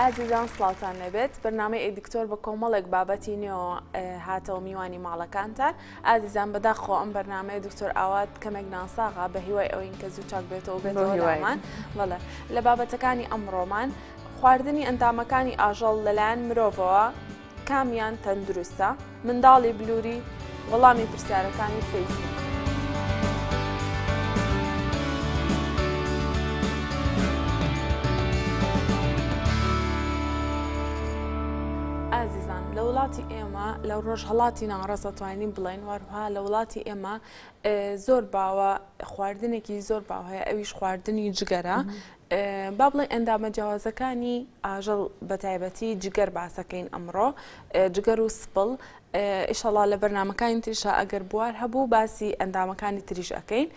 ئازیزان سڵاوتان لێبێت بەرنامەی ئەی دکتۆر بە کۆمەڵێک بابەتی نوێەوە هاتەوە میوانی ماڵەکانتان ئازیزان بەداخەوە ئەم بەرنامەیە دکتۆر ئاوات کەمێک ناساغا بە هیوای ئەوین کە زوو چاک بێتەوە بێتەوەمان بەڵێ لە بابەتەکانی ئەمڕۆمان خواردنی ئەندامەکانی ئاژەڵ لەلایەن مرۆڤەوە کامیان تەندروستە منداڵی بلووری وەڵامی پرسیارەکانی فەیسبوک ئازیزان لە وڵاتی ئێمە ما لە ڕۆژهەڵاتی ناوەڕاست دەتوانین بڵێین وەروها لە وڵاتی ئێمە زۆر باوە خواردنێکی زۆر باو هەیە ئەویش خواردنی جگەرە با بڵێ ئەندامە جیاوازەکانی ئاژەڵ بە تایبەتی جگەر باسەکەین ئەمڕۆ جگەر و سپڵ ئیشەڵا لە بەرنمەکانی تریشا ئەگەر بوار هەبوو باسی ئەندامەکانی تریش ئەەکەین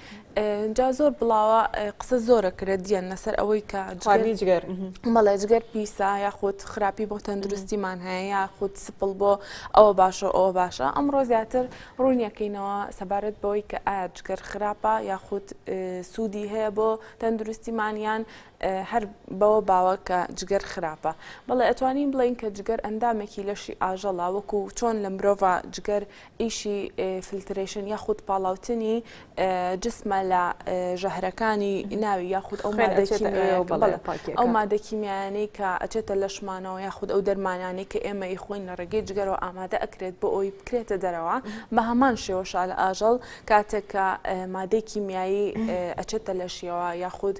جا زۆر بڵاوە قسە زۆرە کرە دییان لەسەر ئەوەی کە جگەر مەڵێ جگەر پیسە یاخود خراپی بۆ تەندروستیمان هەیە یاخود سپڵ بۆ ئەوە باشە ئەوە باشە ئەمڕۆ زیاتر ڕوونیەکەینەوە سەبارەت بەوەی کە ئایا جگەر خراپە یاخود سوودی هەیە بۆ تەندروستیمانیان هەر بەوە باوە کە جگەر خراپە بەڵێ ئەتوانین بڵین کە جگەر ئەندامێکی لەشی ئاژەڵا وەکو چۆن لە مرۆڤ جگەر ئیشی فلترەیشن یاخود پاڵاوتنی جسمە لە ژەهرەکانی ناوی یاخود ئەو ئەو مادەکیمیانەی کە ئەچێتە لەشمانەوە یاخود ئەو دەرمانانەی کە ئێمە ی خۆین لە ڕێگەی جگەرەوە ئامادە ئەکرێت بۆ ئەوی بکرێتە دەرەوە بە هەمان شێوە شال ئاژەڵ کاتێک کە مادەی کیمیایی ئەچێتە لەشیەوە یاخود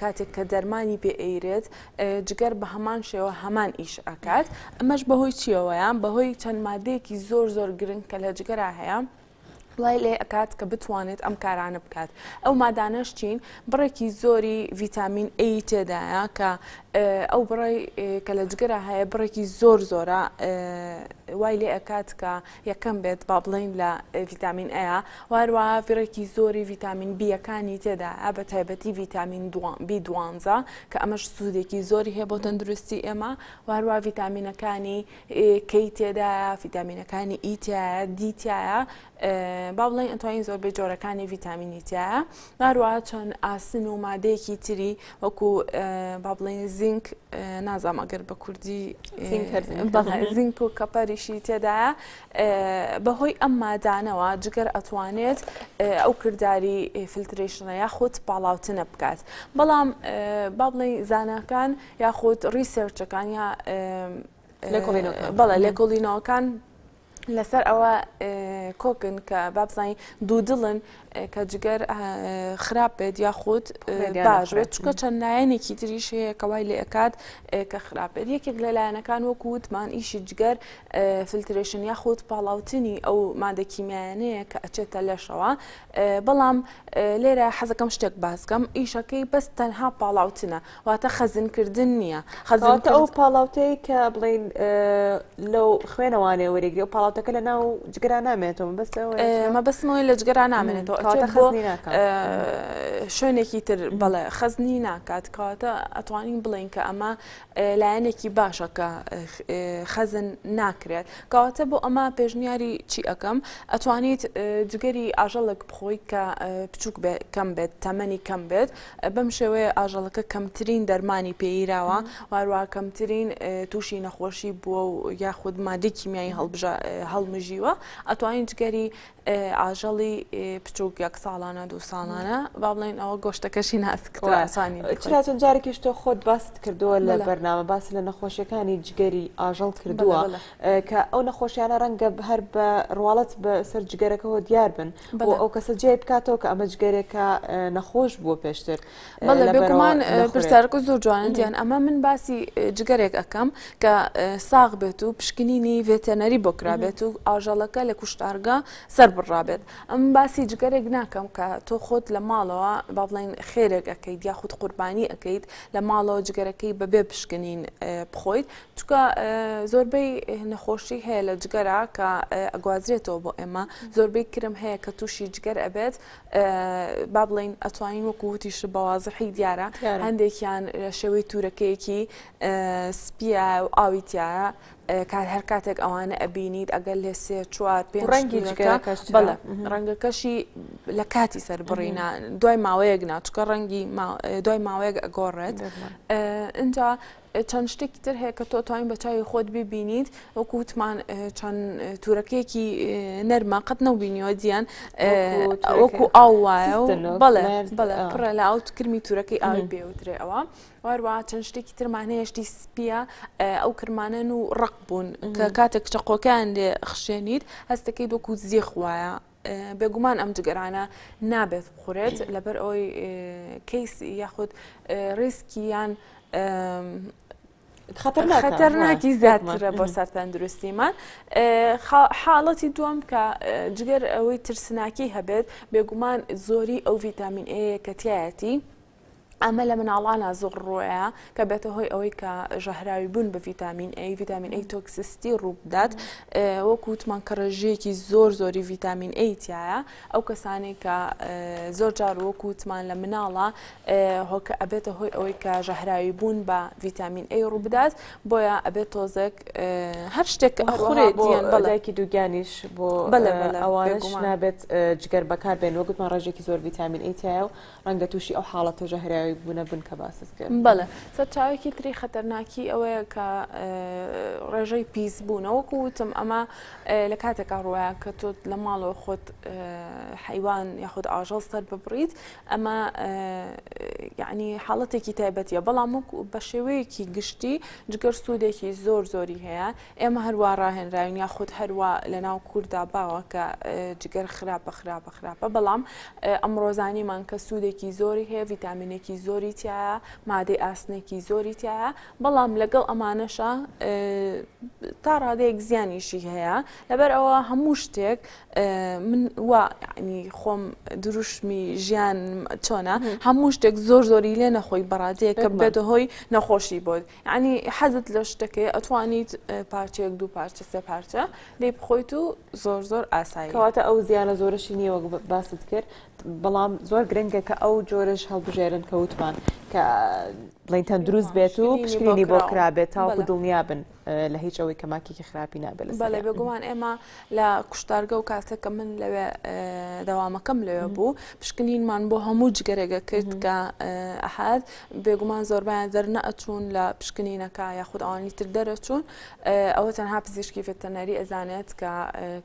کاتێک کە دەرمانی پێ ئەیرێت جگەر بە هەمان شێوە هەمان ئیش ئەکات ئەمەش بەهۆی چیەوەیان بەهۆی چەند مادەیەکی زۆر زۆر گرنگ کە لە جگەرا هەیە وای لێ ئەکات کە بتوانێت ئەم کارانە بکات ئەو مادانەش چین بڕێکی زۆری ڤیتامین ئەی تێدایە کە ئەو بڕی کە لە جگەرا هەیە بڕێکی زۆر زۆرە وای لێ ئەکات کە یەکەم بێت با بڵێین لە ڤیتامین ئەیە و هەروەها ڤڕێکی زۆری ڤیتامین بیەکانی تێدایە بە تایبەتی ڤیتامین بی دوانزە کە ئەمەش سوودێکی زۆری هەیە بۆ تەندروستی ئێمە و هەروە ڤیتامینەکانی کەی تێدایە ڤیتامینەکانی ئیتایە دیتایە با بڵێن ئەتوانین زۆربەی جۆرەکانی ڤیتامینیتایە هەروەها چەند ئاسن و مادەیەکی تری وەکو با بڵێن زینک نازام ئەگەر بە کوردی زینک و کەپەریشی تێدایە بەهۆی ئەم مادانەوە جگەر ئەتوانێت ئەو کردداری فلترێشنە یاخود پاڵاوتنە بکات بەڵام با بڵێن زانەکان یاخود ریسێرچەکان یا بەڵێ لێکۆڵینەوەکان لەسەر ئەوە کۆکن کە بابزانین دوو دڵن کە جگەر خراپ بێت یاخود باش بێت چکە چەند لایەنێکی تریش هەیە کەوای لە ئەکات کە خراپ بێت یەکێک لە لایەنەکان وەکو وتمان ئیشی جگەر فلترێشن یاخود پاڵاوتنی ئەو مادەکیمیانەیە کە ئەچێتە لەشەوە بەڵام لێرە حەزەکەم شتێک باسکەم ئیشەکەی بەس تەنها پاڵاوتنە واتە خەزنکردن نییە خەزانتە ئەو پاڵاوتەیە کە بڵین لەو خوێنەوانێ وەرەگری و پاڵاوتەکە لە ناو جگەرا نامێنێتەوە بەس مە بەسمەوەی لە جگەرا نامێنێتەوە شوێنێکی تر بەڵێ خەزنی ناکات کاتە ئەتوانین بڵین کە ئەمە لایەنێکی باشە کە خەزن ناکرێت کەواتە بۆ ئەمە پێشنیاری چی ئەەکەم ئەتوانیت جگەری ئاژەڵک بخۆی کە بچووک کەم بێت تەمەنی کەم بێت بەم شێوەیە ئاژەڵەکە کەمترین دەرمانی پێیراوە و هەروەها کەمترین تووشی نەخۆشی بووە و یاخود مادەی کیمیایی هەڵمژیوە ئەتوانین جگەری ئاژەڵی بچووک یەک ساڵانە دوو ساڵانە با بڵێن ئەوە گۆشتەکەشی ناسکڕاسانی چراتون جارێکیش تۆ خۆت باست کردووە لە بەرنامە باس لە نەخۆشیەکانی جگەری ئاژەڵ کردووە کە ئەو نەخۆشیانە ڕەنگە هەر بە ڕواڵەت بە سەر جگەرەکەەوە دیار بن بۆ ئەو کەسە جێ بکاتەوە کە ئەمە جگەرێکە نەخۆش بووە پێشتر بەڵێ بێگومان پرسیارکە زۆر جوانە دیان ئەمە من باسی جگەرێک ئەەکەم کە ساغ بێت و پشکنینی ڤێتەنەری بۆ کرابێت و ئاژەڵەکە لە کوشتارگە سەر بڕابێت ئەم باسی جگەرێک ناکەم کە تۆ خۆت لە ماڵەوە با بڵێن خێرێک ئەەکەیت یاخود قوربانی ئەەکەیت لە ماڵەوە جگەرەکەی بەبێ پشکنین بخۆیت چونکە زۆربەی نەخۆشی هەیە لە جگەرا کە ئەگوازرێتەوە بۆ ئێمە زۆربەی کرم هەیە کە تووشی جگەر ئەبێت با بڵین ئەتوانین وەکووتیش بەوازحی دیارە هەندێکیان شێوەی تورەکەیەکی سپیە و ئاوی تایە کات هەر کاتێک ئەوانە ئەبینیت ئەگەر لێ سێ چوار پێ ڕەنگی بەڵە ڕەنگەکەشی لە کاتی سەر بڕینا دوای ماوەیەک ناچکە ڕەنگی دوای ماوەیەک ئەگۆڕێت اینجا چەند شتێکی تر هەیە کە تۆ توانین بە چاوی خۆت ببینیت وەکو وتمان چەند تورەکەیەکی نەرمە قەت نەبینیەوە دییان وەکو ئاو وایە بەڵێ بەڵێ پڕە لە ئەو کرمی تورەکەی ئاوی بێوترێ ئەوە واروا چەند شتێکی ترمانەیەشتی سپیە ئەو کرمانەن و ڕق بوون کە کاتێک چەقۆکان لێ خشێنیت هەستەکەی دۆکو زیخ وایە بێگومان ئەم جگەرانە نابێت بخورێت لەبەر ئەوی کەیس یاخود ریسکی یان خەتەرناکی زیاترە بۆ سەر تەندروستیمان حاڵەتی دووەم کە جگەر ئەوەی ترسناکی هەبێت بێگومان زۆری ئەو ڤیتامین ئەیە کەتیایەتی ئەمە لە مناڵانا زۆر ڕوەیە کە بێتە هۆی ئەوەی کە ژەهراوی بوون بە ڤیتامین ئەی ڤیتامین ئەی تۆکسستی ڕووبدات وەکووتمان کە ڕێژەیەکی زۆر زۆری ڤیتامین ئەیتایە ئەو کەسانی کە زۆر جار وەکووتمان لە مناڵە هۆکە ئەبێتە هۆی ئەوەی کە ژەهراوی بوون بە ڤیتامین ئەی ڕووبدات بۆیە ئەبێت تۆزێک هەر شتێک هەڕێت بەڵێکی دووگیانیش بۆ ئەوانش نابێت جگەر بەکار بێن وەگوتمان ڕێژێکی زۆر ڤیتامین ئەیتایە و ڕەنگە تووشی ئەو حاڵەتە ژەهراوی بوونە بن کە باست کرد بەڵێ سەرچاوێکی تری خەتەرناکی ئەوەیە کە ڕێژەی پیس بوونە وەکو وتم ئەمە لە کاتێکا ڕوایە کە تۆ لە ماڵەوە خۆت حیوان یاخود ئاژەڵ سەر ببڕیت ئەمە یعنی حاڵەتێکی تایبەتە بەڵام بە شێوەیەکی گشتی جگەر سوودێکی زۆر زۆری هەیە ئێمە هەر وا ڕاهێنراوین یاخود هەر وا لەناو کوردا باوە کە جگەر خراپە خراپە خراپە بەڵام ئەمڕۆزانیمان کە سوودێکی زۆری هەیە ڤیتامینێکی زۆری تایە مادەی ئاسنێکی زۆری تایە بەڵام لەگەڵ ئەمانەشە تا ڕادەیەک زیانیشی هەیە لەبەر ئەوە هەموو شتێک من وا ینی خۆم دروشمی ژیان چۆنە هەموو شتێک زۆر زۆری لێ نەخۆی بەڕادەیە کە بێتە هۆی نەخۆشی بۆت یەعنی حەزت لە شتەکەی ئەتوانیت پارچەیەک دوو پارچە سێ پارچە لی بخۆیت و زۆر زۆر ئاسایی کەواتە ئەو زیانە زۆرەشی نییە وەک باست کرد بەڵام زۆر گرنگە کە ئەو جۆرەش هەڵبژێرن کە وتمان کە بڵین تەندروست بێت و پشکنینی بۆ کرابێت تاوەکو دڵنیا بن لە هیچ ئەوەی کە ماکێکی خراپی نابێت بەڵێ بێگومان ئێمە لە کوشتارگە و کاتێک کە من لەوێ دەوامەکەم لەوێ بوو پشکنینمان بۆ هەموو جگەرێگە کرد کە ئەحد بێگومان زۆربیان دەرنە ئەچوون لە پشکنینەکە یاخود ئەوانی تر دەرەچوون ئەوە تەنها پزیشکی ڤتەنەری ئەزانێت کە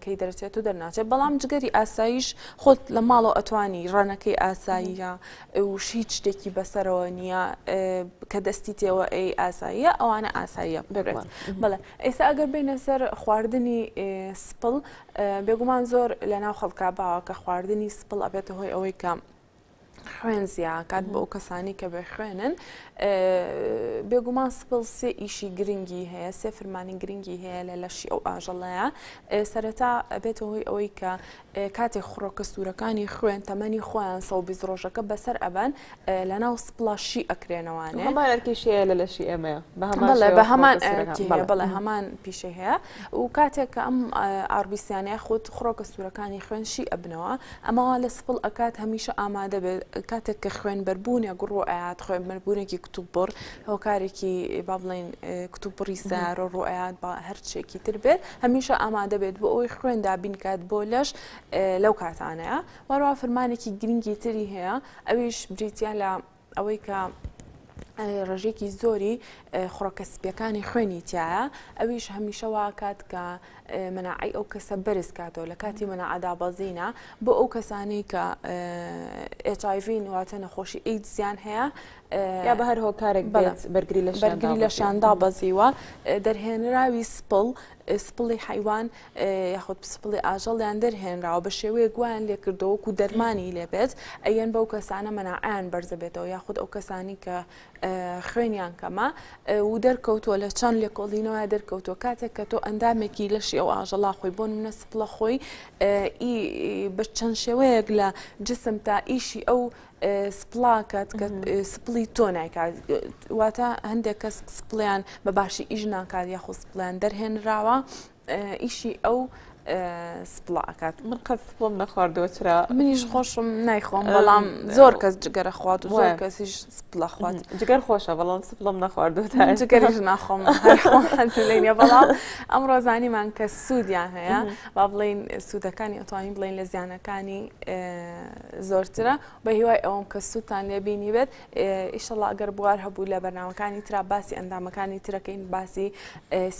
کەی دەرچێت و دەرناچێت بەڵام جگەری ئاساییش خۆت لە ماڵەوە ئەتوانی ڕەنەکەی ئاساییە وش هیچ شتێکی بەسەرەوە نییە کە دەستی تێوە ئەی ئاساییە ئەوانە ئاساییە ببێت بڵێ ئێستا ئەگەر بینە سەر خواردنی سپڵ بێگومان زۆر لە ناو خەڵکا باوە کە خواردنی سپڵ ئەبێتە هۆی ئەوەی کە خوێن زیاکات بۆ ئەو کەسانی کە بێ خوێنن بێگومان سپڵ سێ ئیشی گرنگی هەیە سێ فرمانی گرنگی هەیە لە لەشی ئەو ئاژەڵەیە سەرەتا ئەبێتە هۆی ئەوەی کە کاتێک خڕۆکە سوورەکانی خوێن تەمەنی خۆیان سەد و بیست ڕۆژەکە بەسەر ئەبەن لەناو سپڵا شی ئەکرێنەوانێ هەمان ئەرکی شییە لە لەشی ئێمەیە بە هەمان بەڵێ شێوە بە هەمان خڕۆکە ئەرکی سوورەکان. هەیە بەڵێ. بەڵێ هەمان پیشەی هەیە و کاتێک کە ئەم ئاربیسیانەیە خۆت خڕۆکە سوورەکانی خوێن شی ئەبنەوە ئەمە وا لە سپڵ ئەکات هەمیشە ئامادە بێت کاتێک کە خوێنبەربوونێک ڕوو ئەیات خوێنبەربوونێکی کتوپڕ هۆکارێکی با بڵێین کتوپڕی سارە ڕوو ئەیات با هەر شتێکی تر بێت هەمیشە ئامادە بێت بۆ ئەوەی خوێن دابین کات بۆ لەش لەو کاتانەیە وەرەوە فرمانێکی گرنگی تری هەیە ئەویش بریتە لە ئەوەی کە ڕژێکی زۆری خڕۆکە سپیەکانی خوێنی تایە ئەویش هەمیشە واکات کە مناعی ئەو کەسە بەرز کاتەوە لە کاتی منەعادا بەزینە بۆ ئەو کەسانی کە ئچایڤین واتە نەخۆشی ئیدزیان هەیە یا بە هەر هۆکارێک بەڵێت بەرگری لە بەرگری لە شان دابەزیوە دەرهێنراوی سپڵ سپڵی حیوان یاخود سپڵی ئاژەڵیان دەرهێنراوە بە شێوەیە گویان لێکردەوەکو دەرمانی لێبێت ئەیەن بەو کەسانە مەناعیان بەرزەبێتەوە یاخود ئەو کەسانی کە خوێنیان کەمە و دەرکەوتووە لە چەند لێکۆڵینەوە دەرکەوتووە کاتێک کە تۆ ئەندامێکی لەشی ئەو ئاژەڵا خۆی بۆ منە سپڵە خۆی بە چەند شێوەیەک لە جسم تا ئیشی ئەو سپڵاکەت کە سپڵی تۆ نایکات واتە هەندێک کەس سپڵیان بە باشی ئیش ناکات یاخۆ سپڵیان دەرهێنراوە ئیشی ئەو سپڵا ئەکات من قەت سپڵم نەخواردەوە چرا منیش خۆشم نایخۆم بەڵام زۆر کەس جگەرە خوات و زۆر کەسیش سپڵە خوات جگەر خۆشە بەڵام سپڵم نەخواردو جگەریش ناخۆم لێنە بەڵام ئەم ڕۆزانیمان کە سوودیان هەیە با بڵین سوودەکانی ئەتوانین بڵین لە زیانەکانی زۆرترە بەهیوای ئەوەم کە سووتان لێ بینی بێت ئیشەڵا ئەگەر بوار هەبوو لە بەناوەکانی تررا باسی ئەندامەکانی ترەکەین باسی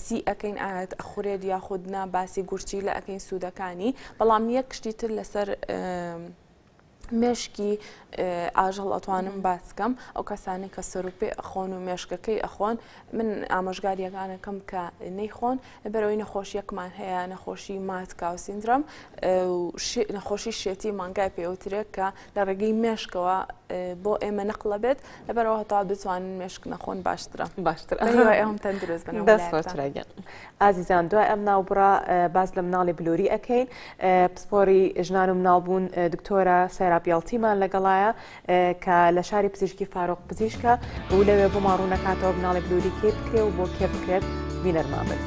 سی ئەەکەین ئاەت ئەخورێت یاخودنا باسی گورچی لە ئەەکەین سوودەکانی بەڵام یەک کشتی تر لەسەر مێشکی ئاژەڵ ئەتوانم باسکەم ئەو کەسانی کە سەرروپێ ئەخۆن و مێشکەکەی ئەخۆن من ئامۆژگاریەکان ئەکەم کە نەیخۆن بەرەوەی نەخۆشیەکمان هەیە نەخۆشی ماتکاو سیندرۆم نەخۆشی شێتی مانگای پێوترێک کە لە ڕێگەی مێشکەوە بۆ ئێمە نەقلە بێت لەبەرەوە هەتا بتوانن مێشک نەخۆن باشترە باشتر ئەم تەندروست بن ئازیزان دوای ئەم ناوبڕە باز لە مناڵی بلووری ئەەکەین پسپۆری ژنان و مناڵبوون دکتۆرە سەرابیڵتیمان لەگەڵایە کە لە شاری پزیشکی فارۆق پزیشکە و لەوێ بۆمان ڕوونەکاتەوە بناڵێک لوری کێ بکرێ و بۆ کێ بکرێت بینەرمان بن.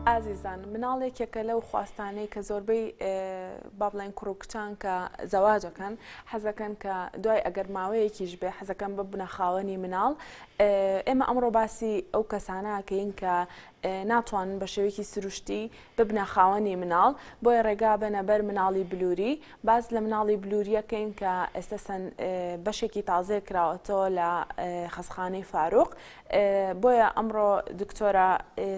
ئازیزان مناڵ یەکێکە لەو خواستانەی کە زۆربەی با بڵێن کوڕ و کچان کە زەواجەکەن حەزەکەن کە دوای ئەگەر ماوەیەکیش بێ حەزەکەم بە بنەخاوەنی مناڵ ئێمە ئەمڕۆ باسی ئەو کەسانەکەین کە ناتوانن بە شێوەیەکی سروشتی ببنە خاوەنی مناڵ، بۆیە ڕێگا بەنە بەر مناڵی بلووری، باس لە مناڵی بلوورییە کەین کە ئێستە چەند بەشێکی تازەیە کراوەتەوە لە خەستخانەی فاروق، بۆیە ئەمڕۆ دکتۆرە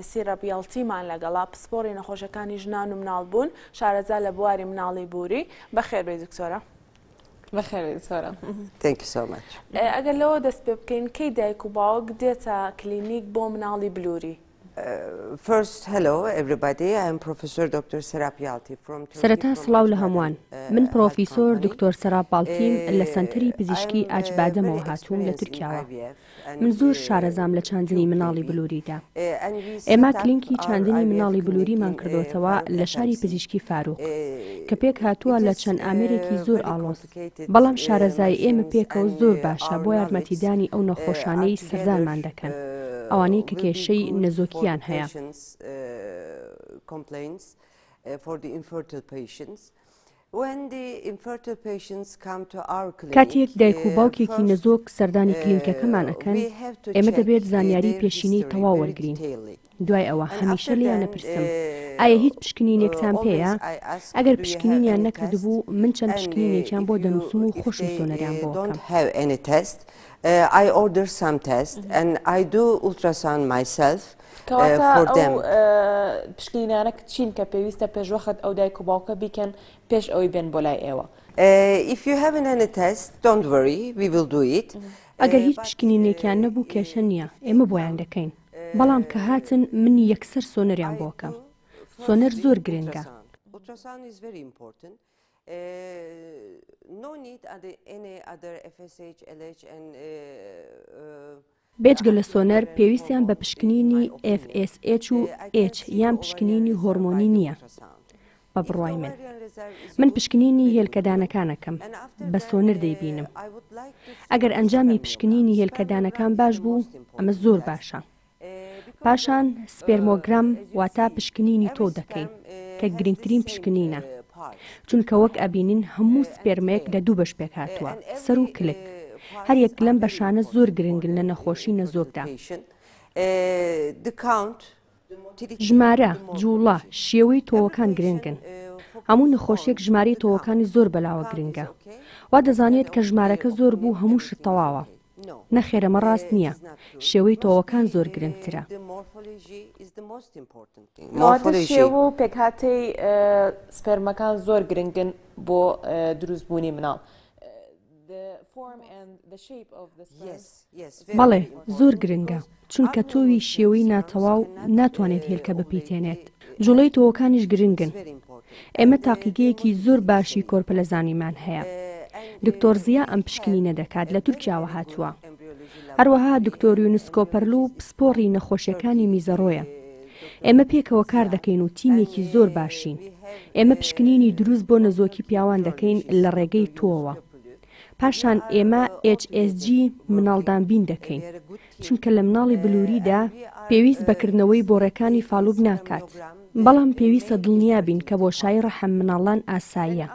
سیرەب یەڵتیمان لەگەڵا پسپۆڕی نەخۆشەکانی ژنان و مناڵ بوون، شارەزا لە بواری مناڵی بووری، بەخێربێی دکتۆرە. ئەگەر لەوە دەست پێ بکەین کەی دایک و باوک دێتە کلینیک بۆ مناڵی بلووری. فست هەلو ئەبربادی ئەم پرۆفسۆر دکتۆر سەراپیاڵتی فرۆم سەرەتا سڵاو لە هەمووان من پرۆفیسۆر دکتۆر سەرا باڵتیم لە سەنتەری پزیشکی ئاج بادەمەوە هاتووم لە تورکیاوە. من زۆر شارەزام لە چاندنی مناڵی بلووریدا. ئێمە کلینکی چاندنی مناڵی بلووریمان کردۆتەوە لە شاری پزیشکی فاروق، کە پێک هاتووە لە چەند ئامێرێکی زۆر ئاڵۆز، بەڵام شارەزایی ئێمە پێکەوە زۆر باشە بۆ یارمەتیدانی ئەو نەخۆشانەی سەردانمان دەکەن، ئەوانەی کە کێشەی نەزۆکییان هەیە. کاتێک دایک و باوکێکی نەزۆک سەردانی کلینکەکەمان ئەکەن، ئێمە دەبێت زانیاری پێشینەی تەواو وەرگرین. دوای ئەوە هەمیشە لێیان ئەپرسم، ئایا هیچ پشکنینێکتان پێیە؟ ئەگەر پشکنینیان نەکردبوو، من چەند پشکنینێکیان بۆ دەنووسم و خۆشم سۆنەریان بۆ ئەکەم. فۆردەم پشکینانە چین کە پێویستە پێشوەخت ئەو دایک و باوکە بیکەن پێش ئەوەی بێن بۆ لای ئێوە ئەگەر هیچ پشکنینێکیان نەبوو کێشە نییە ئێمە بۆیان دەکەین بەڵام کە هاتن من یەکسەر سۆنەریان بۆکەم سۆنەر زۆر گرنگە. بێجگە لە سۆنەر، پێویستیان بە پشکنینی FSH و H یان پشکنینی هۆرمۆنی نییە بە بڕوای من. من پشکنینی هێلکەدانەکان ئەکەم، بە سۆنر دەیبینم. ئەگەر ئەنجامی پشکنینی هێلکەدانەکان باش بوو، ئەمە زۆر باشە. پاشان سپێرمۆگرام واتە پشکنینی تۆو دەکەین، کە گرنگترین پشکنینە. چونکە وەک ئەبینین هەموو سپێرمێک لە دوو بەش پێکهاتووە، سەر و کلک. هەر یەک لەم بەشانە زۆر گرنگن لە نەخۆشی نەزۆکدا. ژمارە، جووڵە، شێوەی تۆوەکان گرنگن. هەموو نەخۆشیەک ژمارەی تۆوەکانی زۆر بەلاوە گرنگە. وا دەزانێت کە ژمارەکە زۆر بوو هەموو شت تەواوە. نەخێر ئەمە ڕاست نییە. شێوەی تۆوەکان زۆر گرنگترە. کەواتە شێوە و پێکهاتەی سپێرمەکان زۆر گرنگن بۆ دروستبوونی مناڵ. بەڵێ، زۆر گرنگە. چونکە تۆوی شێوەی ناتەواو ناتوانێت هێلکە بپیتێنێت. جوڵەی تۆوەکانیش گرنگن. ئێمە تاقیگەیەکی زۆر باشی کۆرپەلەزانیمان هەیە. دکتۆر زیا ئەم پشکنینە دەکات، لە تورکیاوە هاتووە. هەروەها دکتۆر یونس کۆپەرلو پسپۆڕی نەخۆشیەکانی میزەڕۆیە. ئێمە پێکەوە کاردەکەین و تیمێکی زۆر باشین. ئێمە پشکنینی دروست بۆ نەزۆکی پیاوان دەکەین لە ڕێگەی تۆوە. پاشان ئێمە HSG مناڵدانبین دەکەین. چونکە لە مناڵی بلووریدا پێویست بە کردنەوەی بۆڕەکانی فالوب ناکات، بەڵام پێویستە دڵنیا بین کە بۆشایی ڕەحم مناڵان ئاساییە.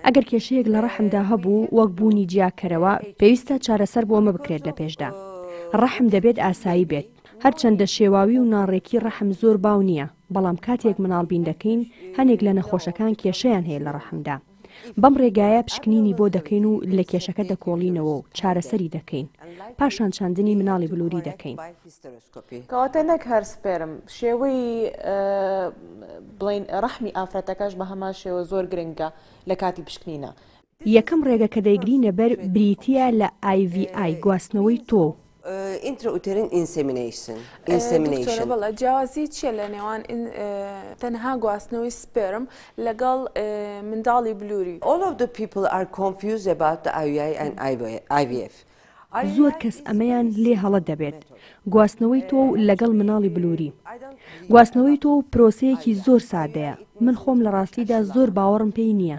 ئەگەر کێشەیەک لە ڕەحمدا هەبوو، وەک بوونی جیاکەرەوە، پێویستە چارەسەر بۆ ئەمە بکرێت لە پێشدا. ڕەحم دەبێت ئاسایی بێت. هەرچەندە شێواوی و ناڕێکی ڕەحم زۆر باو نییە، بەڵام کاتێک مناڵ بین دەکەین، هەنێک لە نەخۆشەکان کێشەیان هەیە لە ڕەحمدا. بەم ڕێگایە پشکنینی بۆ دەکەین و لە کێشەکە دەکۆڵینەوە و چارەسەری دەکەین، پاشان چاندنی مناڵی بلووری دەکەین. کەواتە نەک هەر سپێرم، شێوەی بڵێین ڕەحمی ئافرەتەکەش بە هەمان شێوە زۆر گرنگە لە کاتی پشکنینە. یەکەم ڕێگە کە دەیگرینە بەر بریتییە لە، IVI، گواستنەوەی تۆو، ئینترئوتێرین ئینسێمینەیشن ئینسێمینەیشن بەڵێ جیاوازی چییە لە نێوان تەنها گواستنەوەی سپێرم لەگەڵ منداڵی بلووری All of the people are confused about the IUI and IVF زۆر کەس ئەمەیان لێ هەڵە دەبێت گواستنەوەی تۆ و لەگەڵ مناڵی بلووری گواستنەوەی تۆ و پرۆسەیەکی زۆر سادەیە من خۆم لە ڕاستیدا زۆر باوەڕم پێی نییە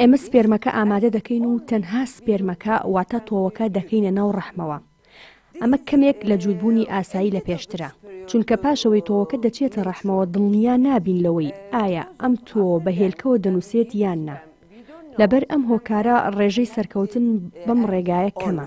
ئێمە سپێرمەکە ئامادە دەکەین و تەنها سپێرمەکە واتە تۆوەکە دەکەینە ناو ڕەحمەوە. ئەمە کەمێک لە جووربوونی ئاسایی لە پێشترە. چونکە پاشەوەی تۆوەکە دەچێتە ڕەحمەوە دڵنیا نابین لەوەی ئایا ئەم تۆوە بە هێلکەوە دەنووسێت یان نا. لەبەر ئەم هۆکارە ڕێژەی سەرکەوتن بەم ڕێگایە کەمە.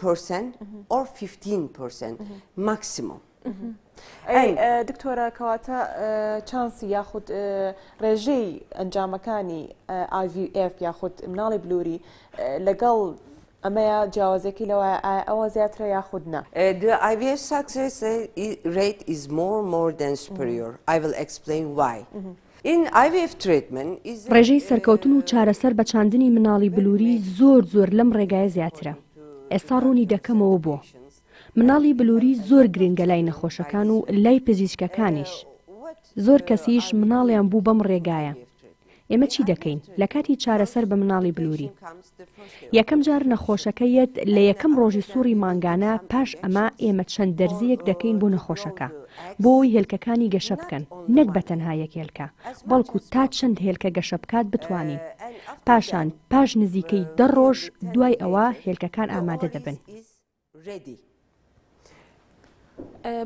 پرسن ئۆر 15 پرسن ماکسیمۆم. دکتۆرە کەواتە چانسی یاخود ڕێژەی ئەنجامەکانی IVF یاخود مناڵی بلووری لەگەڵ ئەمەیە جیاوازەکی لەوە ئەوە زیاترە یاخود نا IVF success rate is more more than superior I will explain why ڕێژەی سەرکەوتن و چارەسەر بە چاندنی مناڵی بلوری زۆر زۆر لەم ڕێگایە زیاترە ئێستا ڕوونی دەکەمەوە بۆ مناڵی بلوری زۆر گرنگە لای نەخۆشەکان و لای پزیشکەکانیش زۆر کەسیش مناڵیان بوو بەم ڕێگایە ئێمە چی دەکەین لە کاتی چارەسەر بە مناڵی بلوری یەکەم جار نەخۆشەکە یەت لە یەکەم ڕۆژی سوڕی مانگانە پاش ئەمە ئێمە چەند دەرزییەک دەکەین بۆ نەخۆشەکە بۆ ئەوەی هێلکەکانی گەشە بکەن نەک بە تەنها یەک هێلکە بەڵکو تا چەند هێلکە گەشە بکات بتوانین پاشان پاش نزیکەی دە ڕۆژ دوای ئەوە هێلکەکان ئامادە دەبن. ڕێدی.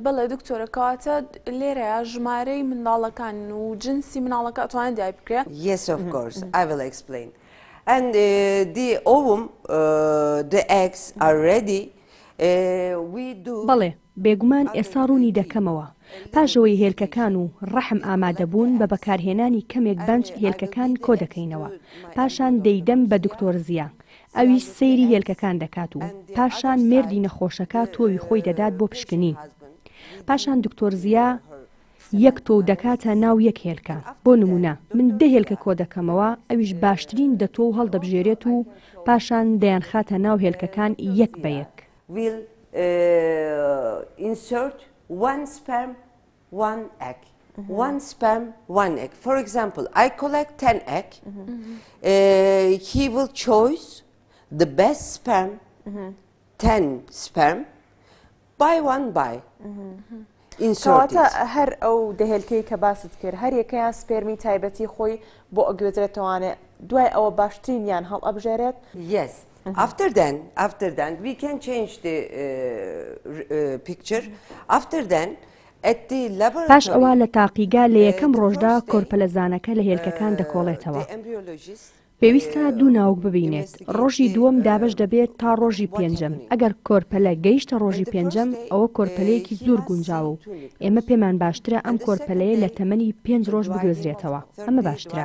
بەڵێ دکتۆرە کەواتە لێرەیا ژمارەی منداڵەکان و جنسی مناڵەکە ئەتوانێت دیای بکرێ Yes of course I will explain and uh, the ovum uh, the eggs are ready بەڵێ بێگومان ئێستا ڕوونی دەکەمەوە پاشەوەی هێلکەکان و ڕەحم ئامادەبوون بە بەکارهێنانی کەمێک بەنج هێلکەکان کۆ دەکەینەوە پاشان دەیدەم بە دکتۆر زیە ئەویش سەیری هێلکەکان دەکات و پاشان مێردی نەخۆشەکە تۆوی خۆی دەدات بۆ پشکنین. پاشان دکتۆر زیا یەک تۆو دەکاتە ناو یەک هێلکە. بۆ نموونە من دە هێلکە کۆ دەکەمەوە، ئەویش باشترین دە تۆو هەڵدەبژێرێت و پاشان دەیانخاتە ناو هێلکەکان یەک بە یەک. وان ئەگ وان سپەم وان ئەگ فۆر ئەگزامپل ئای کۆلێک تەن ئەگ هی ول چۆیس the best sperm تەن سپەم بای وان بای ئینسۆتە هەر ئەو دەهێلکەی کە باست کرد هەر یەکەیان سپێرمی تایبەتی خۆی بۆ ئەگوێزرێتەوانێ دوای ئەوە باشترین یان هەڵ ئەبژێرێت یەس After then, after then, we can change the uh, uh, picture. After then, at the laboratory, پاش ئەوە لە تاقیگا لە یەکەم ڕۆژدا کۆرپەلەزانەکە لە هێلکەکان دەکۆڵێتەوە. پێویستە دوو ناوک ببینێت ڕۆژی دووەم دابش دەبێت تا ڕۆژی پێنجەم ئەگەر کۆرپەلە گەیشتە ڕۆژی پێنجەم ئەوە کۆرپەلەیەکی زۆر گونجاوە و ئێمە پێمان باشترە ئەم کۆرپەلەیە لە تەمەنی پێنج ڕۆژ بگوێزرێتەوە ئەمە باشترە.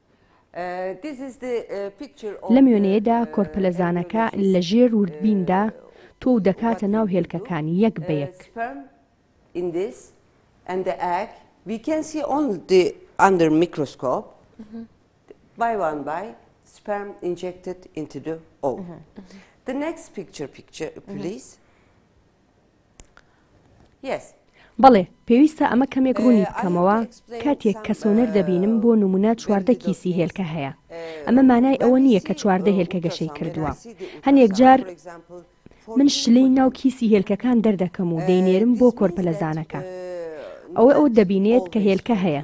لەم وێنەیەدا کۆرپەلەزانەکە لە ژێر وردبیندا تۆ و دەکاتە ناو هێلکەکان یەک بە یەک. بەڵێ، پێویستە ئەمە کەمێک ڕوونی بکەمەوە، کاتێک کە سۆنەر دەبینم بۆ نموونە چواردە کیسی هێلکە هەیە، ئەمە مانای ئەوە نییە کە چواردە هێلکە گەشەی کردووە. هەنێک جار من شلەی ناو کیسی هێلکەکان دەردەکەم و دەینێرم بۆ کۆرپەلەزانەکە. ئەوە ئەو دەبینێت کە هێلکە هەیە،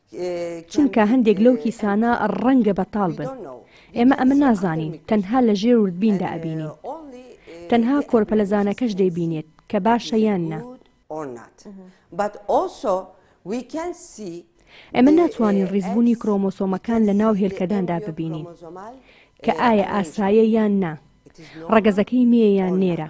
چونکە هەندێک لەو کیسانە ڕەنگە بەتاڵ بن ئێمە ئەمە نازانین تەنها لە ژێر وردبیندا ئەبینین تەنها کۆرپەلەزانەکەش دەیبینێت کە باشە یان نا. ئێمە ناتوانین ڕیزبوونی کرۆمۆسۆمەکان لە ناو هێلکەداندا ببینین کە ئایا ئاسایە یان نا ڕەگەزەکەی مێیە یان نێرە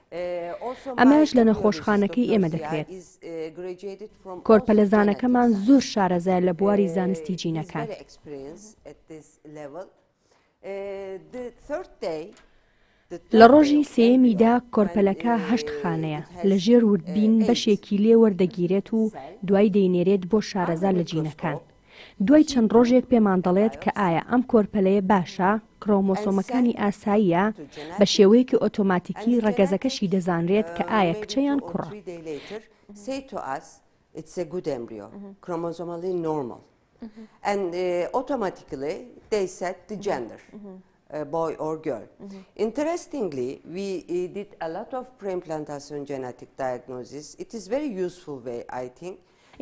ئەمەش لە نەخۆشخانەکەی ئێمە دەکرێت. کۆرپەلەزانەکەمان زۆر شارەزایە لە بواری زانستی جینەکان. لە ڕۆژی سێیەمیدا کۆرپەلەکە هەشت خانەیە لە ژێر وردبین بەشێکی لێ وەردەگیرێت و دوای دەینێرێت بۆ شارەزا لە جینەکان. دوای چەند ڕۆژێک پێمان دەڵێت کە ئایا ئەم کۆرپەلەیە باشە، کرۆمۆسۆمەکانی ئاساییە، بە شێوەیەکی ئۆتۆماتیکی ڕەگەزەکەشی دەزانرێت کە ئایا کچە یان کوڕە.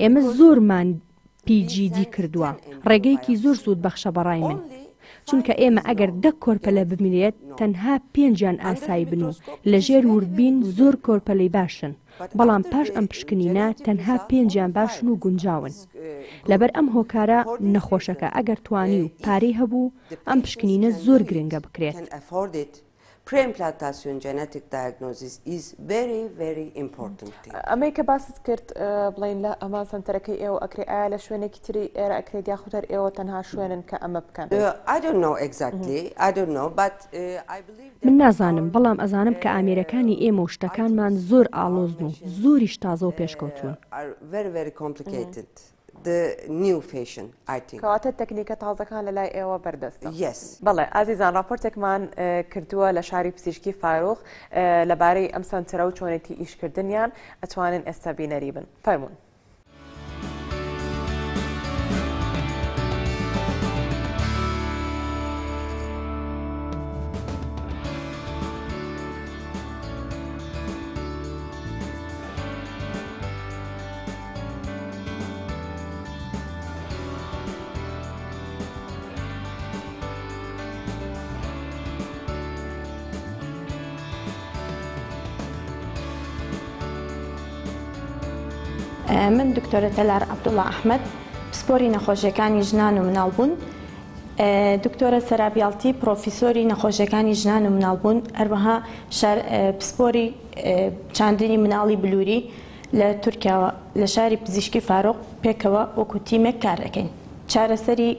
ئێمە زۆرمان پی جی دی کردوە ڕێگەیەکی زۆر سود بەخشە بەڕای من چونکە ئێمە ئەگەر دە کۆرپەلە بمرێت تەنها پێنجیان ئاسایی بن و لە ژێر وردبین زۆر کۆرپەلەی باشن بەڵام پاش ئەم پشکنینە تەنها پێنجیان باشن و گونجاون لەبەر ئەم هۆکارە نەخۆشەکە ئەگەر توانی و پارەی هەبوو ئەم پشکنینە زۆر گرنگە بکرێت. Preimplantation genetic diagnosis is very very important. ئەمەی کە باست کرد بڵین لە ئەمان سەنتەرەکەی ئێوە ئەکرێ ئایا لە شوێنێکی تری ئێرە ئەکرێت یاخود هەر ئێوە تەنها شوێنن کە ئەمە بکەن من نازانم بەڵام ئەزانم کە ئامێرەکانی ئێمە و شتەکانمان زۆر ئاڵۆزن و زۆریش تازە و پێشکەوتون. the new fashion I think. کەواتە تەکنیکە تازەکان لە لای ئێوە بەردەستە؟ Yes. بەڵێ ئازیزان ڕاپۆرتێکمان کردووە لە شاری پزیشکی فاروق لەبارەی ئەم سەنتەرە و چۆنێتی ئیشکردنیان ئەتوانن ئێستا بینەری بن فەرمونون. من دکتۆرە تەلار عبدوڵا ئەحمد پسپۆری نەخۆشیەکانی ژنان و مناڵبوون دکتۆرە سەرابیاڵتی پرۆفیسۆری نەخۆشیەکانی ژنان و مناڵبوون هەروەها پسپۆری چاندنی مناڵی بلووری لە تورکیاوە لە شاری پزیشکی فاروق پێکەوە وەکو تیمێک کار دەکەین. چارەسەری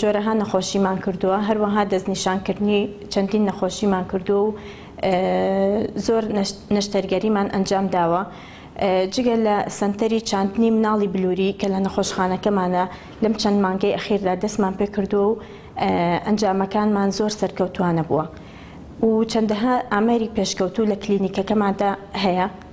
جۆرەها نەخۆشیمان کردووە، هەروەها دەستنیشانکردنی چەندین نەخۆشیمان کردووە و زۆر نەشتەرگەریمان ئەنجام داوە. جگە لە سەنتەری چاندنی مناڵی بلووری کە لە نەخۆشخانەکەمانە لەم چەند مانگەی ئەخیردا دەستمان پێ کردووە و ئەنجامەکانمان زۆر سەرکەوتووانە بووە و چەندەها ئامێری پێشکەوتوو لە کلینیکەکەماندا هەیە.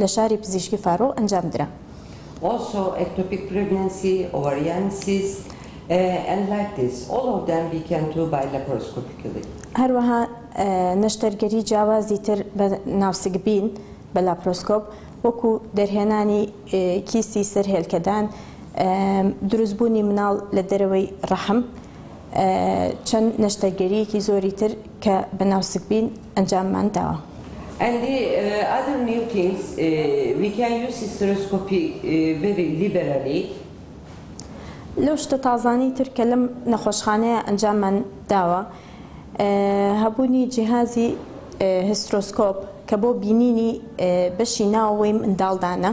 لە شاری پزیشکی فاروق ئەنجام درا. Also ectopic pregnancy, ovarian cyst and like this all of them we can do by laparoscopically. هەروەها نەشتەرگەری جیاوازی تر بە ناوسکبین بە لاپرۆسکۆپ وەکو دەرهێنانی کیسی سەر هێلکەدان، دروستبوونی مناڵ لە دەرەوەی ڕەحم، چەند نەشتەرگەرییەکی زۆری تر. کە بە ناوسکبین ئەنجاممان داوە. ئەندی ئادەم نیوتینز ویکای یو سیسترۆسکۆپی بری لیبرالی. لەو شتە تازانەی تر کە لەم نەخۆشخانەیە ئەنجاممان داوە هەبوونی جیهازی هیسترۆسکۆپ کە بۆ بینینی بەشی ناوەوەی منداڵدانە.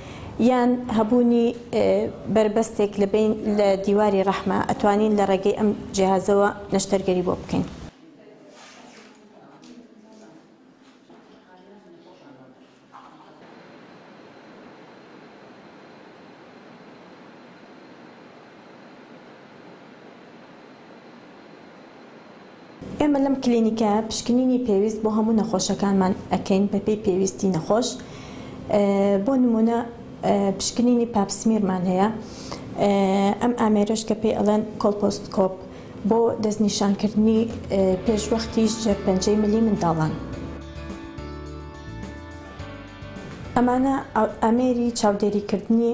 یان هەبوونی بەربەستێک لە بەین لە دیواری ڕەحمە ئەتوانین لە ڕێگەی ئەم جیهازەوە نەشتەرگەری بۆ بکەین. ئێمە لەم کلینیکەیە پشکنینی پێویست بۆ هەموو نەخۆشەکانمان ئەکەین بەپێی پێویستی نەخۆش بۆ نمونە پشکنینی پاپسمیرمان هەیە ئەم ئامێرش کە پێی ئەڵێن کۆلپۆستکۆپ بۆ دەستنیشانکردنی پێشوەختیش ژێرپەنجەی ملی منداڵان. ئەمانە ئامێری چاودێریکردنی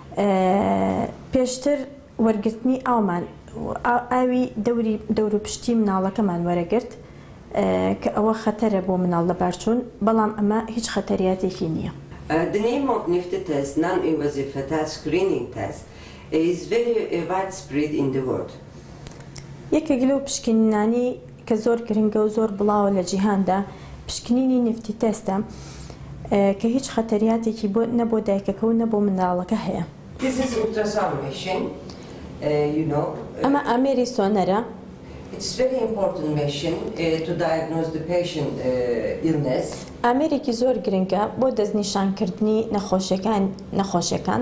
پێشتر وەرگرتنی ئاومان ئاوی دەوری دەوروپشتی مناڵەکەمان وەرەگرت کە ئەوە خەتەرە بۆ مناڵ لەبارچوون بەڵام ئەمە هیچ خەتەریاتێکی نیە. دنیای مۆگنیفتی تەست نام ئی وەزیفە تا سکرینینگ تەست ئیز ڤێری ڤایدسپرید ئین دە وۆرد. یەکێک لەو پشکنینانەی کە زۆر گرنگە و زۆر بڵاوە لە جیهاندا، پشکنینی نفتی تەستە، کە هیچ خەتەریاتێکی بۆ نە بۆ دایکەکە و نە بۆ منداڵەکە هەیە. This is ultrasound machine you know. ئەمە ئامێری سۆنەرە. It's very important machine to diagnose the patient illness. ئامێرێکی زۆر گرنگە بۆ دەستنیشانکردنی نەخۆشیەکان.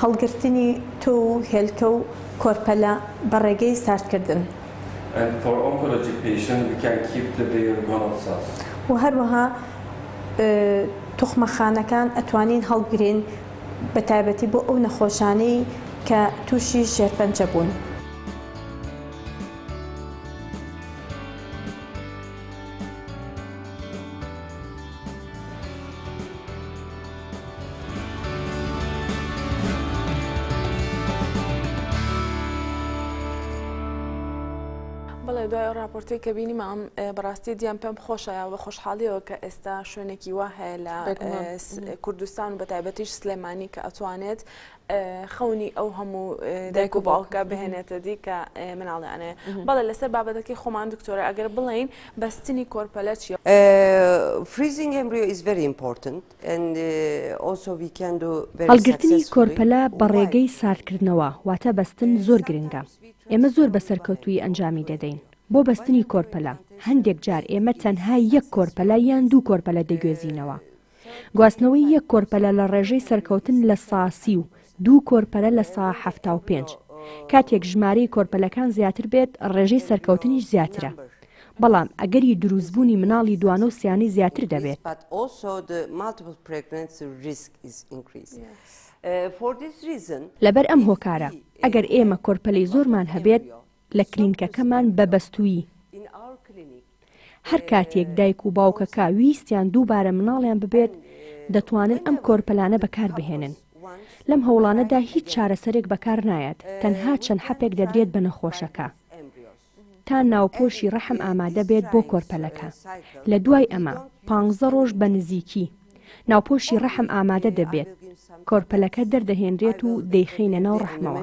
هەڵگرتنی تۆو و هێلکە و کۆرپەلە بە ڕێگەی ساردکردن. and for oncology patient we can keep the bare gonad cells. و هەروەها توخمەخانەکان ئەتوانین هەڵگرین بە تایبەتی بۆ ئەو نەخۆشانەی کە تووشی شێرپەنجە بوون. بەڵێ دوای ئەو راپۆرتی کە بینیمام بەڕاستی دییان پێم خۆشە بە خۆشحاڵیەوە کە ئێستا شوێنێکی وا هەیە لە کوردستان و بە تایبەتیش سلێمانی کە ئەتوانێت خەونی ئەو هەموو دایک و باوکە بهێنێتە دی کە مناڵیانێ بەڵێ لەسەر بابەتەکەی خۆمان دکتۆرە ئەگەر بڵین بەستنی کۆرپەلە چیە فریزینگ ئەمبریۆ ئیز ڤری ئیمپۆرتنت هەڵگرتنی کۆرپەلە بە ڕێگەی ساردکردنەوە واتە بەستن زۆر گرنگە ئێمە زۆر بە سەرکەوتوی ئەنجامی دەدەین بۆ بەستنی کۆرپەلە هەندێک جار ئێمە تەنها یەک کۆرپەلە یان دوو کۆرپەلە دەگوێزینەوە گواستنەوەی یەک کۆرپەلە لە ڕێژەی سەرکەوتن لە سا سی و دوو کۆرپەلە لە سا حەفتا و پێنج. کاتێک ژمارەی کۆرپەلەکان زیاتر بێت ڕێژەی سەرکەوتنیش زیاترە. بەڵام ئەگەری دروستبوونی مناڵی دوانە و سیانەی زیاتر دەبێت. لەبەر ئەم هۆکارە ئەگەر ئێمە کۆرپەلەی زۆرمان هەبێت لە کلینکەکەمان بە بەستوویی. هەر کاتێک دایک و باوکەکە ویستیان دووبارە مناڵیان ببێت، دەتوانن ئەم کۆرپەلانە بەکاربهێنن. لەم هەوڵانەدا هیچ چارەسەرێک بەکارنایەت، تەنها چەند حەپێک دەدرێت بە نەخۆشەکە تا ناوپۆشی ڕەحم ئامادە بێت بۆ کۆرپەلەکە. لە دوای ئەمە پانزە ڕۆژ بە نزیکی ناوپۆشی ڕەحم ئامادە دەبێت، کۆرپەلەکە دەردەهێنرێت و دەیخەینە ناو ڕەحمەوە.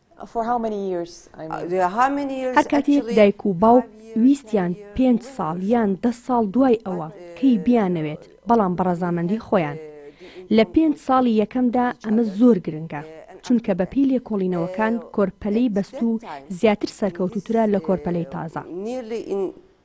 هەر کاتێک دایک و باوک ویستیان پێنج ساڵ یان دە ساڵ دوای ئەوە کەی بیانەوێت بەڵام بە ڕەزامەندی خۆیان لە پێنج ساڵی یەکەمدا ئەمە زۆر گرنگە چونکە بە پێی لێکۆڵینەوەکان کۆرپەلەی بەستوو زیاتر سەرکەوتووترە لە کۆرپەلەی تازە.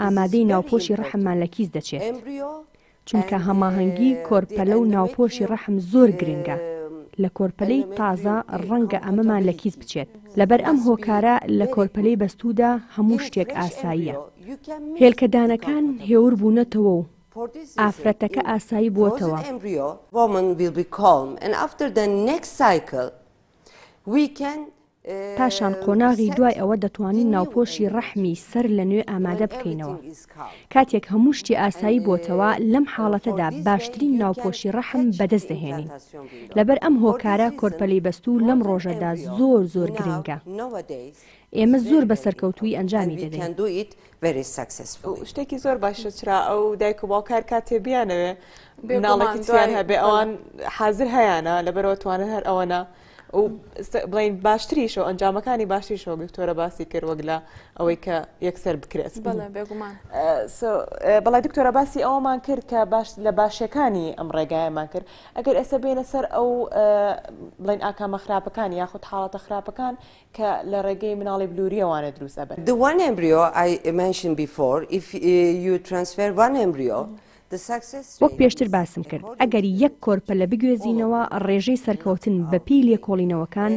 ئامادەی ناوپۆشی ڕەحممان لە کیس دەچێت، چونکە هەماهەنگی کۆرپەلە و ناوپۆشی ڕەحم زۆر گرنگە لە کۆرپەلەی تازە، ڕەنگە ئەمەمان لە کیس بچێت، لەبەر ئەم هۆکارە لە کۆرپەلەی بەستوودا هەموو شتێک ئاساییە، هێلکەدانەکان هێور بوونەتەوە و ئافرەتەکە ئاسایی بووەتەوە. پاشان قۆناغی دوای ئەوە دەتوانین ناوپۆشی ڕەحمی سەر لە نوێ ئامادە بکەینەوە. کاتێک هەموو شتی ئاسایی بۆتەوە، لەم حاڵەتەدا باشترین ناوپۆشی ڕەحم بەدەست دەهێنین. لەبەر ئەم هۆکارە کۆرپەلەی بەستوو لەم ڕۆژەدا زۆر زۆر گرنگە. ئێمە زۆر بە سەرکەوتوویی ئەنجامی دەدەین. شتێکی زۆر باشە چرا ئەو دایک و باوکە هەر کاتێ بیانەوێ مناڵێکی تیان هەبێ ئەوان حازر هەیانە لەبەرەوە توانن هەر ئەوەنە و بڵین باشتریشەوە ئەنجامەکانی باشتریشەوە دکتۆرە باسی کرد وەک لە ئەوەی کە یەکسەر بکرێت بەڵی دکتۆرە باسی ئەومان کرد کە باش لە باشەکانی ئەم ڕێگایمان کرد ئەگەر ئێستا بینە سەر ئەو بڵین ئاکامە خراپەکان یاخود حاڵەتە خراپەکان کە لە ڕێگەی مناڵی بلووریەوانە دروستە بن دووان ئەمبریۆ ئایمەشن بیفۆر یو ترانسفێر وان ئەمبریۆ وەک پێشتر باسم کرد، ئەگەر یەک کۆرپەلە بگوێزینەوە ڕێژەی سەرکەوتن بە پێی لێکۆڵینەوەکان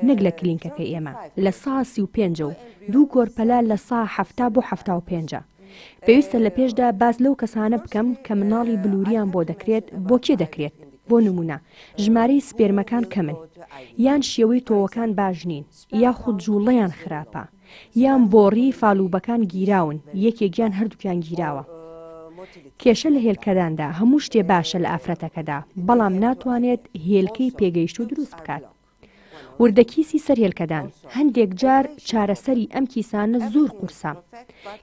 نەک لە کلینکەکەی ئێمە لە سا سی و پێنج ە و دوو کۆرپەلە لە سا حەفتا بۆ حەفتا و پێنج ە. پێویستە لە پێشدا باس لەو کەسانە بکەم کە مناڵی بلووریان بۆ دەکرێت بۆ کێ دەکرێت، بۆ نموونە ژمارەی سپێرمەکان کەمن، یان شێوەی تۆوەکان باش نین، یاخود جووڵەیان خراپە. یان بۆڕی فالوبەکان گیراون یەکێک یان هەردووکیان گیراوە کێشە لە هێلکەداندا هەموو شتێ باشە لە ئافرەتەکەدا بەڵام ناتوانێت هێلکەی پێگەیشتوو دروست بکات وردەکیسی سەر هێلکەدان هەندێک جار چارەسەری ئەم کیسانە زۆر قورسە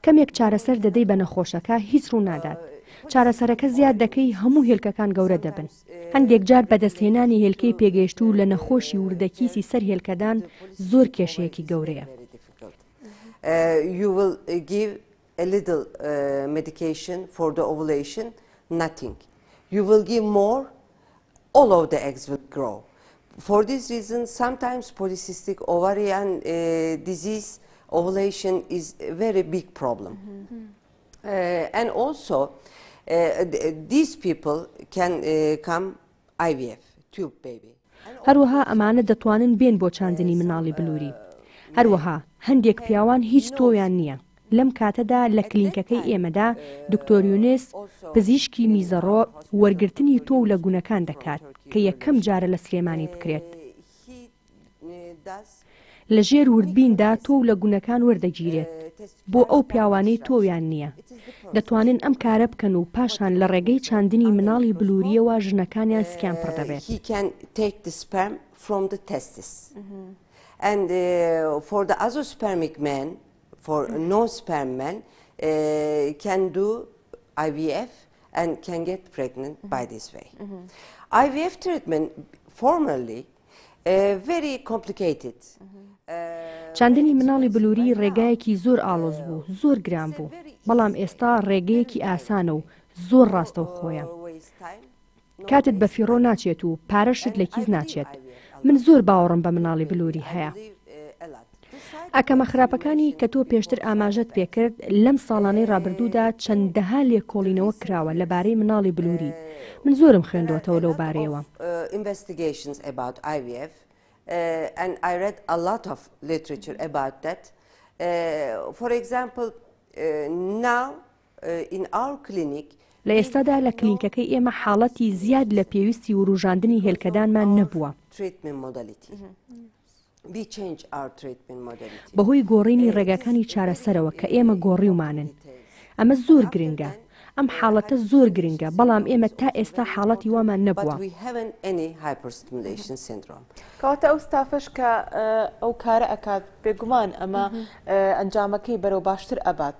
کەمێک چارەسەر دەدەی بە نەخۆشەکە هیچ ڕوونادات چارەسەرەکە زیاد دەکەی هەموو هێلکەکان گەورە دەبن هەندێک جار بەدەستهێنانی هێلکەی پێگەیشتوو لە نەخۆشی وردە کیسی سەر هێلکەدان زۆر کێشەیەکی گەورەیە. and also these people can come IVF tube baby. هەروەها ئەمانە دەتوانن بێن بۆ چاندنی مناڵی بلوری. هەروەها هەندێک پیاوان هیچ تۆویان نییە. لەم کاتەدا لە کلینکەکەی ئێمەدا دکتۆر یونس، پزیشکی میزەڕۆ، وەرگرتنی تۆو لە گونەکان دەکات، کە یەکەم جارە لە سلێمانی بکرێت. لە ژێر وردبیندا تۆ و لە گونەکان وەردەگیرێت بۆ ئەو پیاوانەی تۆویان نییە. دەتوانن ئەم کارە بکەن و پاشان لە ڕێگەی چاندنی مناڵی بلوورییەوە ژنەکانیان سکیان پڕ دەبێت. Very complicated. چاندنی مناڵی بلووری ڕێگایەکی زۆر ئاڵۆز بوو زۆر گران بوو بەڵام ئێستا ڕێگەیەکی ئاسانە و زۆر ڕاستە و خۆیان کاتت بە فیڕۆ ناچێت و پارەشت لە کیس ناچێت من زۆر باوەڕم بە مناڵی بلووری هەیە ئاکامە خراپەکانی کە تۆ پێشتر ئاماژەت پێکرد، لەم ساڵانەی ڕابردوودا چەندەها لێکۆڵینەوە کراوە لەبارەی مناڵی بلووری، من زۆرم خوێندۆتەوە لەو بارەیەوە. لە ئێستادا لە کلینکەکەی ئێمە حاڵەتی زیاد لە پێویستی ورووژاندنی هێلکەدانمان نەبووە. بەهۆی گۆڕینی ڕێگاکانی چارەسەرەوە کە ئێمە گۆڕیومانن. ئەمە زۆر گرنگە. ئەم حاڵەتە زۆر گرنگە، بەڵام ئێمە تا ئێستا حاڵەتی وامان نەبووە. کەواتە ئەو ستافەش کە ئەو کارە ئەکات، بێگومان ئەمە ئەنجامەکەی بەرەو باشتر ئەبات.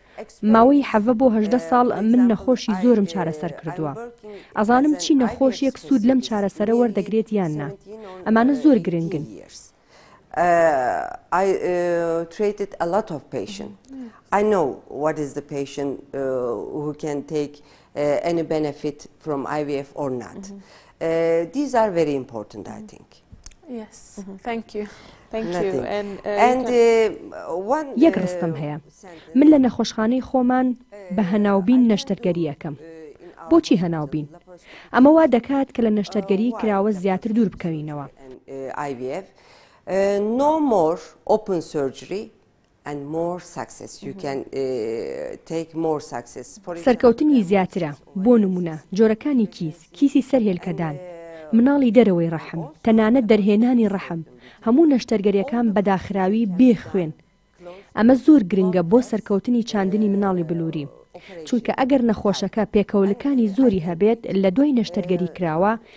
ماوەی حەڤە بۆ هەژدە ساڵ من نەخۆشی زۆرم چارەسەر کردووە. ئەزانم چی نەخۆشیەک سوود لەم چارەسەرە وەردەگرێت یان نا. ئەمانە زۆر گرنگن. یەک ڕستم هەیە من لە نەخۆشخانەی خۆمان بە هەناوبین نەشتەرگەریەکەم بۆچی هەناوبین ئەمە وا دەکات کە لە نەشتەرگەری کراوە زیاتر دوور بکەوینەوە. سەرکەوتنی زیاترە، بۆ نموونە، جۆرەکانی کیس، کیسی سەر هێلکەدان، مناڵی دەرەوەی ڕەحم، تەنانەت دەرهێنانی ڕەحم، هەموو نەشتەرگەرییەکان بە داخراوی بێ خوێن. ئەمە زۆر گرنگە بۆ سەرکەوتنی چاندنی مناڵی بلوری، چونکە ئەگەر نەخۆشەکە پێکەوەلکانی زۆری هەبێت لە دوای نەشتەرگەری کراوە،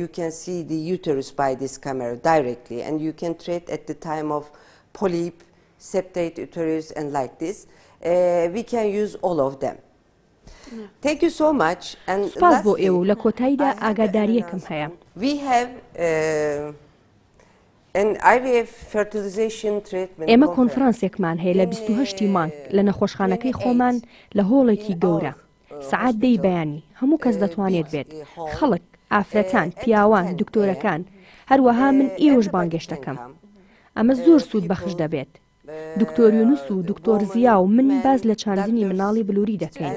یو کێن سی دی یوتەروس بای دیس کامێرا دایرێکتلی ئەند یو کێن ترێت ئەت دی تایم ئۆف پۆلیپ سێپتەیت یوتەروس ئەند لایک دیس وی کێن یوز ئۆڵ ئۆف دێم Thank you so much and سپاس بۆ ئێوە و لە کۆتاییدا ئاگاداریەکم هەیە We have uh, ئێمە کۆنفرانسێکمان هەیە لە 28 مانگ لە نەخۆشخانەکەی خۆمان لە هۆڵێکی گەورە سەعات دەی بەیانی هەموو کەس دەتوانێت بێت، خەڵک، ئافرەتان، پیاوان، دکتۆرەکان، هەروەها من ئێوەش بانگێشت دەکەم. ئەمە زۆر سوود بەخش دەبێت. دکتۆر یونس و دکتۆر زیا و من باس لە چاندنی مناڵی بلوری دەکەین.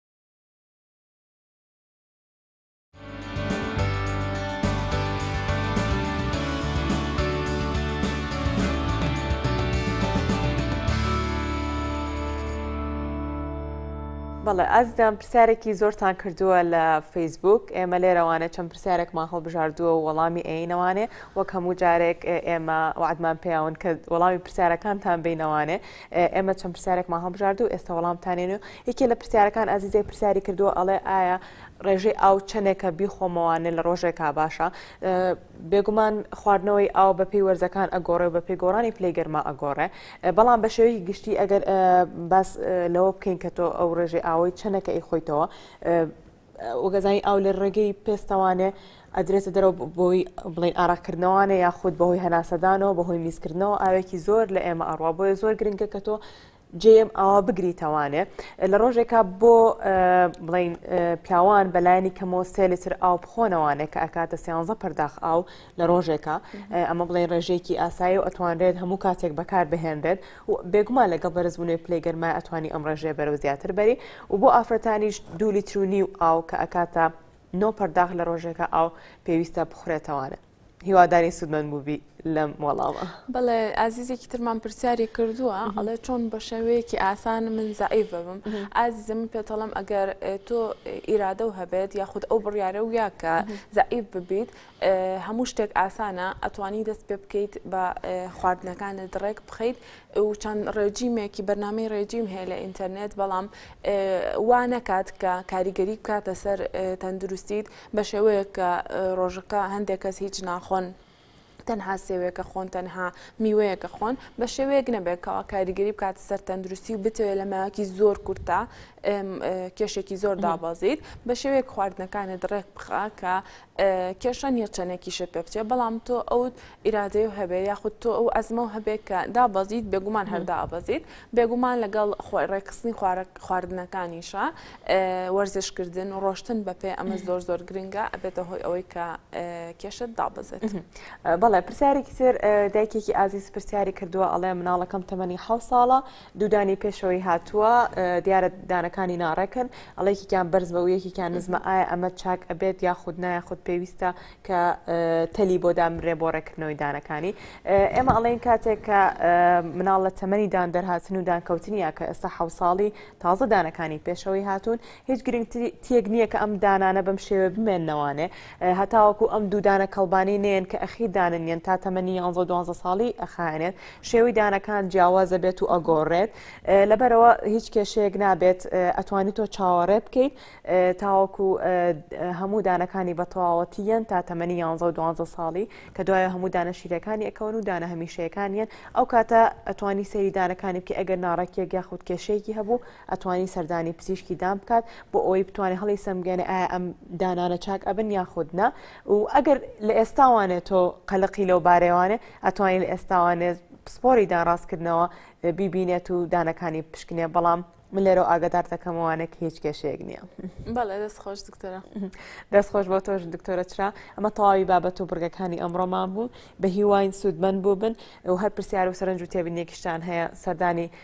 بەڵێ ئازیزان پرسیارێکی زۆرتان کردووە لە فەیسبوک ئێمە لێرەوانێ چەند پرسیارێکمان هەڵبژاردووە و وەڵامی ئەینەوانێ وەک هەموو جارێک ئێمە وعدمان پیاون کە وەڵامی پرسیارەکانتان بینەوانێ ئێمە چەند پرسیارێکمان هەڵبژاردوو ئێستا وەڵامتانێن و یەکێ لە پرسیارەکان ئازیزێک پرسیاری کردووە ئەڵێ ئایا ڕێژەی ئاو چەندێکە بیخۆمەوانێ لە ڕۆژێکا باشە بێگومان خواردنەوەی ئاو بە پێی وەرزەکان ئەگۆڕێ بە پێی گۆڕانی پلەی گەرما ئەگۆڕێ بەڵام بە شێوەی گشتی ئەگەر باس لەوە بکەین کە تۆ ئەو ڕێژەی ئاوەی چەندەکە ئی خۆیتەوە وگەزانی ئاو لە ڕێگەی پێستەوانێ ئەدرێتە دەرەوە بۆی بڵین ئاراکردنەوانێ یاخود بەهۆی هەناسەدانەوە بەهۆی میزکردنەوە ئاوێکی زۆر لە ئێمە ئەڕوا بۆیە زۆر گرنگە کە تۆ جێم ئاوا بگریتەوانێ لە ڕۆژێکا بۆ بڵین پیاوان بەلایەنی کەمەوە سێ لتر ئاو بخۆنەوانێ کە ئەکاتە سیانزە پەرداخ ئاو لە ڕۆژێکە ئەمە بڵین ڕێژێکی ئاسایی و ئەتوانرێت هەموو کاتێک بەکار بهێنرێت و بێگومان لەگەڵ بەرزبونەوەی پلەی گەرما ئەتوانی ئەم ڕێژەیە بەرەو زیاتر بەری و بۆ ئافرەتانیش دوو لیتر و نیو ئاو کە ئەکاتە نۆ پەرداخ لە ڕۆژێکا ئاو پێویستە بخورێتەوانە هیوادارین سوودمەند بووبی لەم وەڵامە. بەڵێ ئازیزێکی ترمان پرسیاری کردووە ئەڵێ چۆن بە شێوەیەکی ئاسان من زەعیف ببم ئازیزە من پێتەڵم ئەگەر تۆ ئیرادە و هەبێت یاخود ئەو بڕیارە ویا کە زەعیف ببیت هەموو شتێک ئاسانە ئەتوانی دەست پێ بکەیت بە خواردنەکانت ڕێک بخەیت و چەند ڕێجیمێکی بەرنمەی ڕێجیم هەیە لە ئینتەرنێت بەڵام وا نەکات کە کاریگەری بکاتە سەر تەندروستیت بە شێوەیە کە ڕۆژەکە هەندێک کەس هیچ ناخۆن تەنها سێوێکە خۆن تەنها میوەیەکە خۆن بە شێوەیەک نەبێت کەوا کاریگەری بکات سەر تەندروستی و بتەوێت لە ماوەکی زۆر کورتە کێشێکی زۆر دابازیت بە شێوەیەک خواردنەکانت ڕێک بخە کە کێشە نیە چەنێکیشت پێ بچێ بەڵام تۆ ئەوت ئیرادەی و هەبێ یاخود تۆ ئەو ئەزمە و هەبێ کە دابەزیت بێگومان هەردا ئابەزیت بێگومان لەگەڵ خۆی ڕێکخستنی خواردنەکانیشە وەرزشکردن و ڕۆشتن بەپێ ئەمە زۆر زۆر گرنگە ئەبێتە هۆی ئەوەی کە کێشت دابەزێت بەڵێ پرسیارێکی تر دایکێکی ئازیز پرسیاری کردووە ئەڵێ مناڵەکەم تەمەنی حە ساڵە دوودانی پێشەوەی هاتووە دیارە دانەکانی ناڕێکن ئەڵێکیان بەرز بە و یەکیان نزمە ئایا ئەمە چاک ئەبێت یاخود نایە خود پێویستە کە تەلی بۆ دامرێ بۆ ڕێکردنەوەی دانەکانی ئێمە ئەڵێن کاتێک کە مناڵ لە تەمەنی دان دەرهاتن و دانکەوتنیە کە ئێستا حوساڵی تازە دانەکانی پێشەوەی هاتوون هیچ گرنگتیەک نیە کە ئەم دانانە بەم شێوێ بمێننەوانێ هەتاوەکو ئەم دوودانە کەڵبانی نێن کە ئەخی داننیێن تا تەمەنی یانزە دوانزە ساڵی ئەخایێنێت شێوەی دانەکان جیاوازە بێت و ئەگۆڕێت لەبەرەوە هیچ کێشەیەک نابێت ئەتوانی تۆ چاوەڕێ بکەیت تاوەکو هەموو دانەکانی بە تەواوەتیەن تا تەمەنی یانزە و دوانزە ساڵی کە دوایە هەموو دانە شیرەکانی ئەکەون و دانە هەمیشەیەکانیان ئەو کاتە ئەتوانی سەیری دانەکانی بکە ئەگەر ناڕێکیەک یاخود کێشەیەکی هەبوو ئەتوانی سەردانی پزیشکی دان بکات بۆ ئەوەی بتوانێت هەڵی سەمگەێنێ ئایا ئەم دانانە چاک ئەبن یاخودنا و ئەگەر لە ئێستاوانێت تۆ قەلقی لەو بارێوانێ ئەتوانین لە ئێستاوانێت پسپۆری دانڕاستکردنەوە بیبینێت و دانەکانی پشکنێ بەڵام من لێرە ئاگدار دەکەمەوانێک هیچ کێشەیەک نییە بەڵێ دەست خۆش دکتۆرە دەست خۆش بۆ تۆش دکتۆرە چرا ئەمە تەواوی بابەت و بڕگەکانی ئەمڕۆمان بوو بە هیواین سوودمەند بوو بن و هەر پرسیار و سەرنج و تێبینێکیشتان هەیە سەردانی